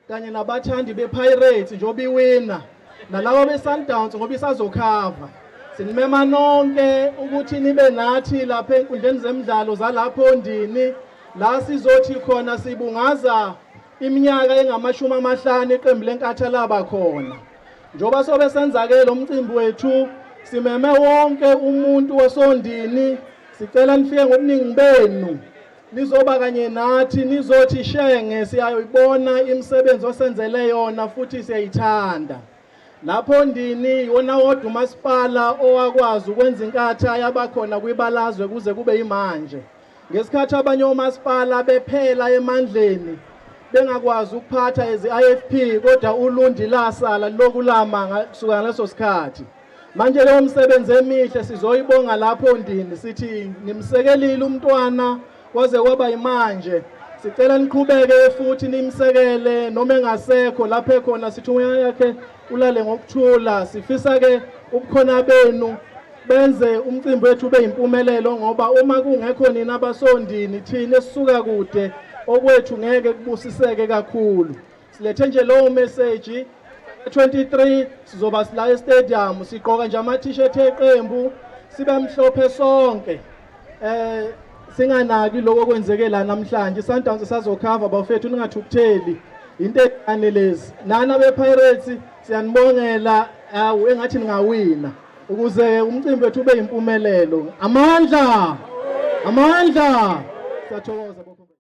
kanye nabathandi bePirates njengoba iwina nalaba beSundowns ngoba isazokhava sinimema nonke ukuthi nibe nathi lapha enkundleni zemidlalo zalapho ndini la sizothi khona sibungaza iminyaka engamashumi amahlanu iqembu lenkatha laba khona njengoba sobe senza-ke lo mcimbi wethu simeme wonke umuntu wasondini sicela nifike ngobuningi benu Nizoba kanye nathi nizothi shenge siyayoyibona imisebenzi osenzele yona futhi siyayithanda. Lapho ndini yiwona wodwa umasipala owakwazi ukwenza inkatha yabakhona kwibalazwe kuze kube yimanje. Ngesikhathi abanye omasipala bephela emandleni bengakwazi ukuphatha ezi-IFP kodwa uLundi lasala lilokulama kusukela ngaleso sikhathi. Manje leyo msebenzi emihle sizoyibonga lapho ndini sithi nimsekelile umntwana kwaze kwaba imanje sicela niqhubeke futhi nimsekele noma engasekho lapho ekhona sithi umoya yakhe ulale ngokuthula sifisa ke ubukhona benu benze umcimbi wethu ube yimpumelelo ngoba uma kungekho nina basondini thina esisuka kude okwethu ngeke kubusiseke kakhulu silethe nje lowo message 23 sizoba sila estadium sigqoka nje ama t-shirt eqembu sibe mhlophe sonke eh singanaki lokho kwenzeke la namhlanje Sundowns sazokhava bafethu ningathukutheli into encane lezi nana bePirates siyanibongela awu engathi ningawina ukuze umcimbi wethu ube impumelelo amandla amandla sathokoza